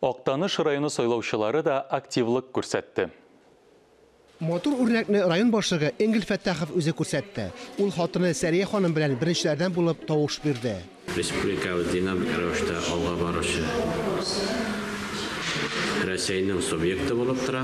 Актаныш районы сайлаучылары да активлык күрсәтте. Матур үрнәкне район башлыгы Энгель Фәттахов үзе күрсәтте. Ул хатыны Сәрия ханым белән беренчеләрдән булып тавыш бирде. Республикабыз динамик рәвештә алга баручы Рәсәйнең субъекты булып тора.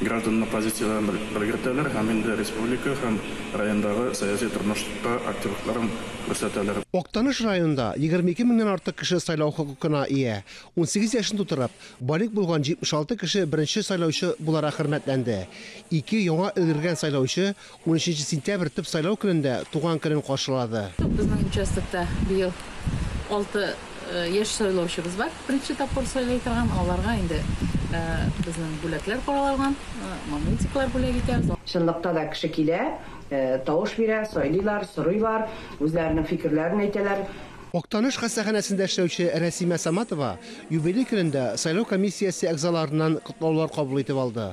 Гражданны позицияләрен белгертәләр һәм инде республика һәм райондагы сәяси тормышта активлыкларын күрсәтәләр. Актаныш районында егерме ике меңнән артык кеше сайлау хокукына ия. Унсигез яшен тутырып, балигъ булган 76 кеше беренче сайлаучы буларак хөрмәтләнде. Ике яңа өлгергән сайлаучы Унөченче сентябрь төп сайлау көнендә туган көнен каршылады. Безнең участокта быел алты яшь сайлаучыбыз бар, беренче тапкыр сайлый торган. Аларга инде безнең бүләкләр каралган, магнитиклар бүләк итәбез. Чынлыкта да кеше килә, тавыш бирә, сайлыйлар, сорыйлар, үзләренең фикерләрен әйтәләр. Актаныш хастаханәсендә эшләүче Рәсимә Саматова юбилей көнендә сайлау комиссиясе әгъзаларыннан котлаулар кабул итеп алды.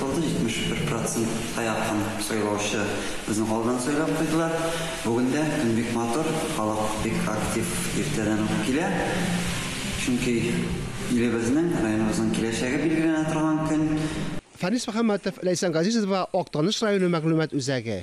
Сайлауда 71 процентка якын сайлаучы безнең авылдан сайлап куйдылар. Бүген дә көн бик матур, халык бик актив иртәдән үк килә. Чөнки илебезнең, районыбызның киләчәге билгеләнә торган көн. Фәнис Мөхәммәтов, Ләйсән Газизова, Актаныш районы мәгълүмат үзәге.